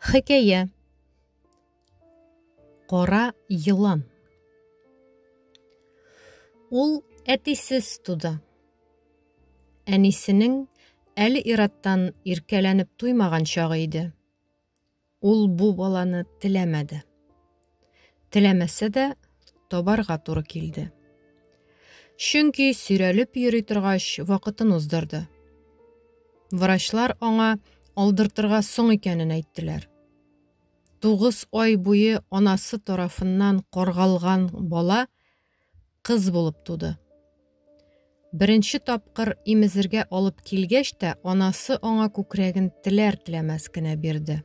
Хикәя Кара елан Ул әтисез туды. Әнисенең әле ираттан иркәләнеп туймаган чагы иде. Ул бу баланы теләмәде. Теләмәсә дә, табарга туры килде. Чөнки сөйрәлеп йөри торгач, вакытын уздырды. Врачлар аңа алдыртырга соң икәнен әйттеләр. Тугыз ай буе анасы тарафыннан коргалган бала кыз булып туды. Беренче тапкыр имезергә алып килгәч тә, анасы аңа күкрәген теләр-теләмәс кенә бирде.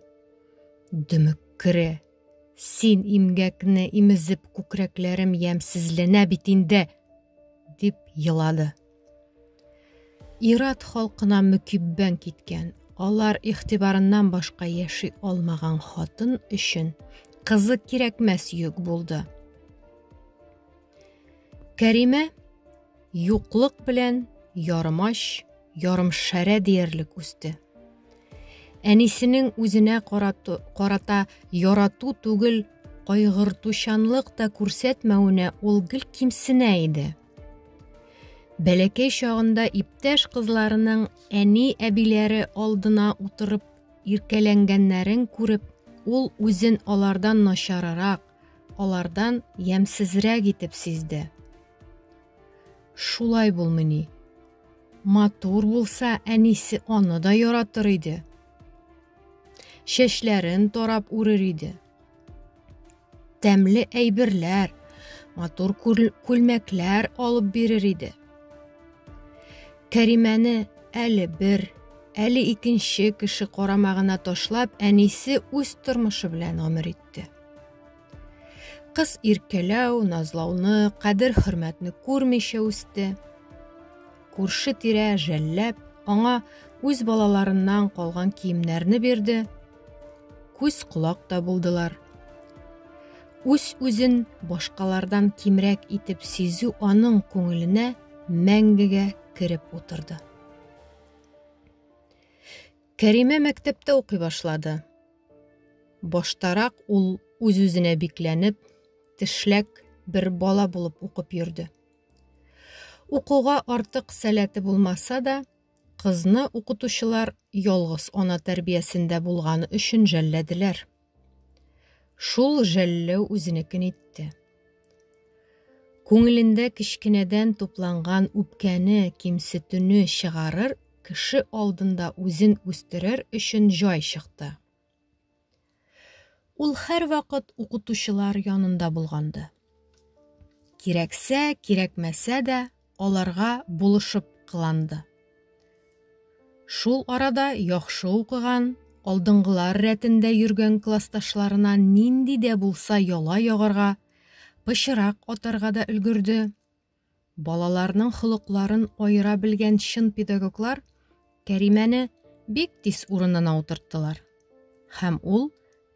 Дөмеккере, син имгәкне имезеп күкрәкләрем ямьсезләнә бит инде, дип елады. Ират халкына мөкиббән киткән, алар игътибарыннан башка яши алмаган хатын өчен кызы кирәкмәс йөк булды. Кәримә юклык белән ярымач, ярымшәрә диярлек үсте. Әнисенең үзенә карату, карата ярату түгел, кайгыртучанлык та күрсәтмәвенә ул гел кимсенә иде. Бәләкәй чагында иптәш кызларының әни-әбиләре алдына утырып иркәләнгәннәрен күреп, ул үзен алардан начарырак, алардан ямьсезрәк итеп сизде. Шулай булмыни. Матур булса, әнисе аны да яратыр иде. Чәчләрен тарап үрер иде. Тәмле әйберләр, матур күлмәкләр алып бирер иде. Кәримәне әле бер, әле икенче кеше карамагына ташлап, әнисе үз тормышы белән гомер итте. Кыз иркәләү, назлауны, кадер-хөрмәтне күрмичә үсте. Күрше тирә жәлләп, аңа үз балаларыннан калган киемнәрне бирде, Күз колак та булдылар. Үз үзен башкалардан кимрәк итеп сизү аның күңеленә мәңгегә кереп утырды. Кәримә мәктәптә укый башлады. Баштарак ул үз-үзенә бикләнеп, тешләк бер бала булып укып йөрде. Укуга артык сәләте булмаса да, Кызны укытучылар ялгыз ана тәрбиясендә булганы өчен жәлләделәр. Шул жәлләү үзенекен итте. Күңелендә кечкенәдән тупланган үпкәне, кимсетүне чыгарыр, кеше алдында үзен үстерер өчен җай чыкты. Ул һәрвакыт укытучылар янында булганды. Кирәксә, кирәкмәсә дә, аларга булышып кыланды. Шул арада яхшы укыган, алдынгылар рәтендә йөргән классташларына нинди дә булса яла ягарга, пычырак атарга да өлгерде. Балаларның холыкларын аера белгән чын педагоглар Кәримәне бик тиз урынына утырттылар. Һәм ул,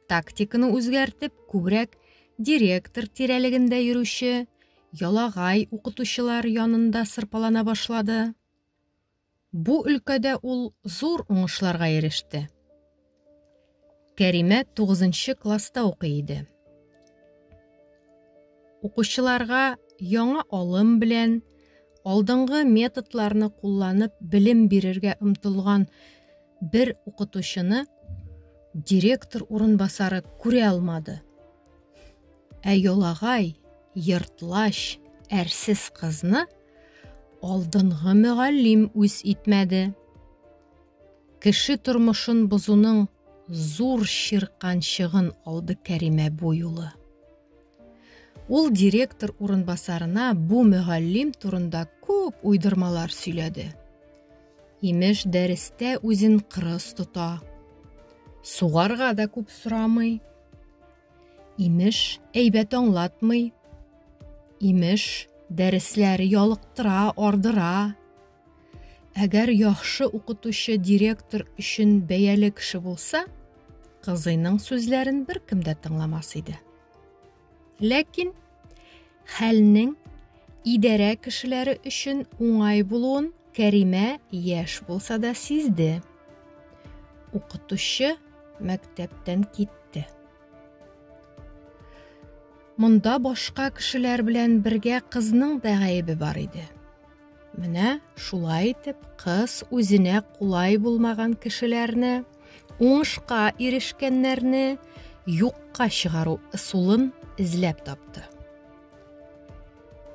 тактиканы үзгәртеп, күбрәк директор тирәлегендә йөрүче, ялагай укытучылар янында сырпалана башлады. Бу өлкәдә ул зур уңышларга иреште. Кәримә тугызынчы класста укый иде. Укучыларга яңа алым белән, алдынгы методларны кулланып белем бирергә омтылган бер укытучыны директор урынбасары күрә алмады. Ә йолагай, йортлач, әрсез кызны алдынгы мөгаллим үз итмәде. Кеше тормышын бозуның зур чирканчыгын алды Кәримә бу юлы. Ул директор урынбасарына бу мөгаллим турында күп уйдырмалар сөйләде. Имеш, дәрестә үзен кырыс тота. Сугарга да күп сорамый, Имеш, әйбәт аңлатмый. Имеш, дәресләре ялыктыра, ардыра. Әгәр яхшы укытучы директор өчен бәяле кеше булса, кызыйның сүзләрен беркем дә тыңламас иде. Ләкин Хәлнең идарә кешеләре өчен уңай булуын Кәримә яшь булса да сизде. Укытучы мәктәптән китте. Монда башка кешеләр белән бергә кызның да гаебе бар иде. Менә шулай итеп кыз үзенә кулай булмаган кешеләрне, уңышка ирешкәннәрне юкка чыгару ысулын эзләп тапты.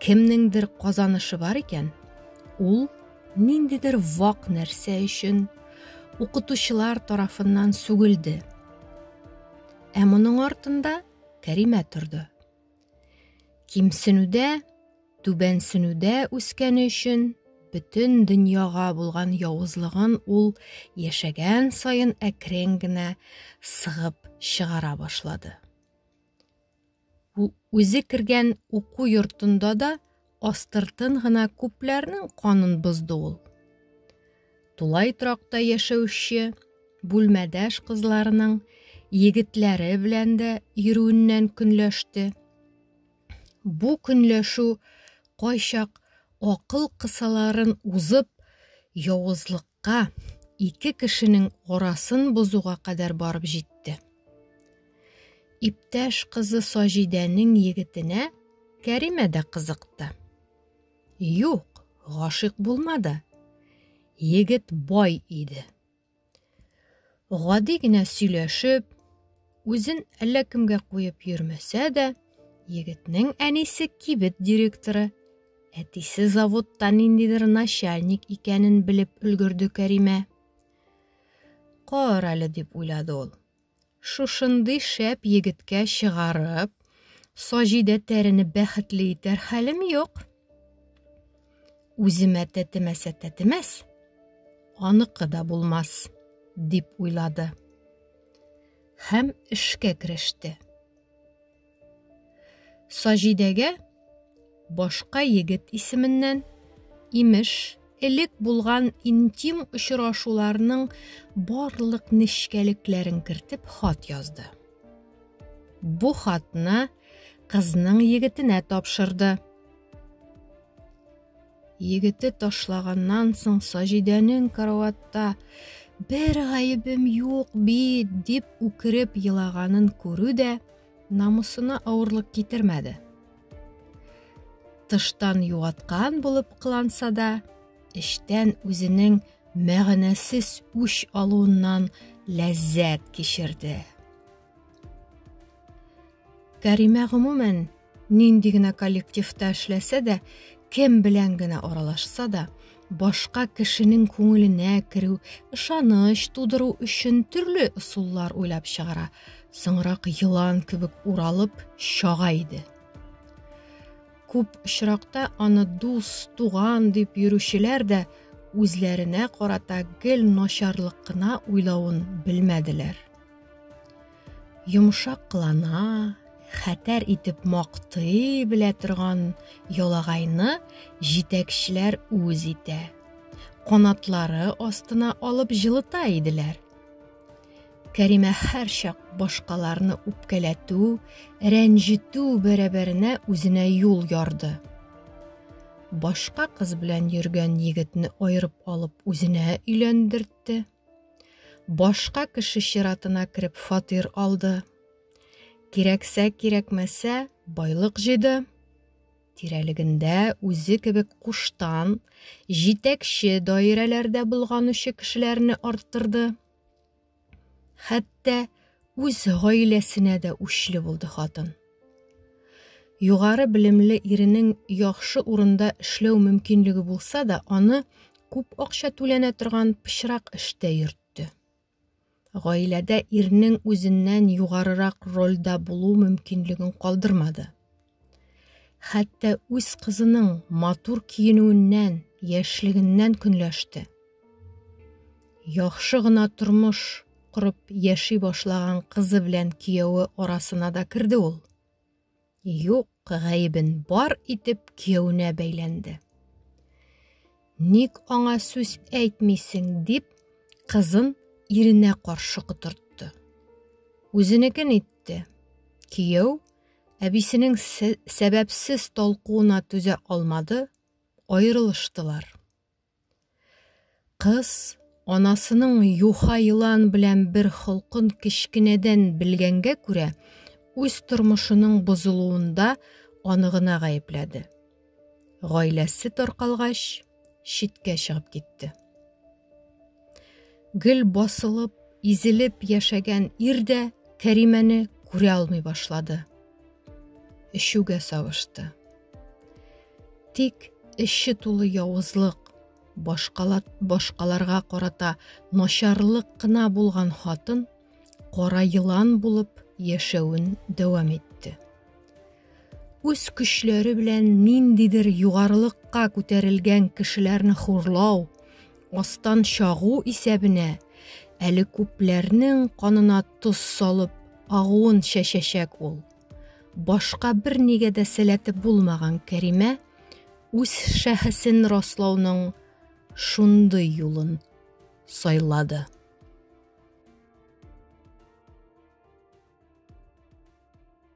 Кемнеңдер казанышы бар икән, ул ниндидер вак нәрсә өчен укытучылар тарафыннан сүгелде. Ә моның артында Кәримә торды. Кимсенүдә, түбәнсенүдә үскәне өчен бөтен дөньяга булган явызлыгын ул яшәгән саен әкрен генә сыгып чыгара башлады. Үзе кергән уку йортында да астыртын гына күпләрнең канын бозды ул. Тулай торакта яшәүче бүлмәдәш кызларының егетләре белән дә йөрүеннән көнләште. Бу көнләшү кайчак акыл кысаларын узып, явызлык Кызыкка ике кешенең арасын бозуга кадәр барып җитте. Иптәш кызы Саҗидәнең егетенә Кәримә дә кызыкты. Юк, гашыйк булмады. Егет бай иде. Гади генә сөйләшеп, Үзен әллә кемгә куеп йөрмәсә дә, егетнең әнисе кибет директоры, әтисе заводта ниндидер начальник икәнен белеп өлгерде Кәримә. Кар әле дип уйлады ул. Шушындый шәп егеткә чыгарып, Саҗидә тәрени бәхетле итәр хәлем юк. Үземә тәтемәсә тәтемәс, аныкы да булмас, дип уйлады. һәм эшкә кереште. Саҗидәгә башка егет исеменнән имеш элек булган интим очрашуларның барлык нечкәлекләрен кертеп хат язды. Бу хатны кызның егетенә тапшырды. Егете ташлаганнан соң Саҗидәнең караватта бер гаебем юк бит дип үкереп елаганын күрү дә намусына авырлык китермәде. Тыштан юаткан булып кыланса да, эчтән үзенең мәгънәсез үч алуыннан ләззәт кичерде. Кәримә гомумән нинди генә коллективта эшләсә дә, кем белән генә аралашса да, башка кешенең күңеленә керү, ышаныч тудыру өчен төрле ысуллар уйлап чыгара. Соңрак елан кебек уралып чага иде. Күп очракта аны дус, туган дип йөрүчеләр дә үзләренә карата гел начарлык кына уйлавын белмәделәр. Йомшаклана, хәтәр итеп мактый белә торган ялагайны җитәкчеләр үз итә. Канатлары астына алып җылыта иделәр. Кәримә һәрчак башкаларны үпкәләтү, рәнҗетү бәрабәренә үзенә юл ярды. Башка кыз белән йөргән егетне аерып алып үзенә өйләндертте. Башка кеше чиратына кереп фатир алды. Кирәксә, кирәкмәсә, байлык җыйды. Тирәлегендә үзе кебек куштан, җитәкче даирәләрдә булганучы кешеләрне арттырды. Хәтта үз гаиләсенә дә үчле булды хатын. Югары белемле иренең яхшы урында эшләү мөмкинлеге булса да, аны күп акча түләнә торган пычрак эштә йөртте. Гаиләдә ирнең үзеннән югарырак рольдә булу мөмкинлеген калдырмады. Хәтта үз кызының матур киенүеннән, яшьлегеннән көнләште. Яхшы гына тормыш корып яши башлаган кызы белән кияүе арасына да керде ул. Юк гаебен бар итеп кияүенә бәйләнде. Ник аңа сүз әйтмисең дип, кызын иренә каршы котыртты. Үзенекен итте. Кияү әбисенең сәбәпсез толкуына түзә алмады, аерылыштылар. Кыз, анасының юха елан белән бер холкын кечкенәдән белгәнгә күрә, үз тормышының бозылуында аны гына гаепләде. Гаиләсе таркалгач, читкә чыгып китте. Гел басылып, изелеп яшәгән ир дә Кәримәне күрә алмый башлады. Эчүгә савышты. Тик эче тулы явызлык, башкала, башкаларга карата начарлык кына булган хатын кара елан булып яшәвен дәвам итте. Үз көчләре белән ниндидер югарылыкка күтәрелгән кешеләрне хурлау, астан чагу исәбенә әле күпләрнең канына тоз салып агуын чәчәчәк ул. Башка бер нигә дә сәләте булмаган Кәримә үз шәхесен раслауның шундый юлын сайлады.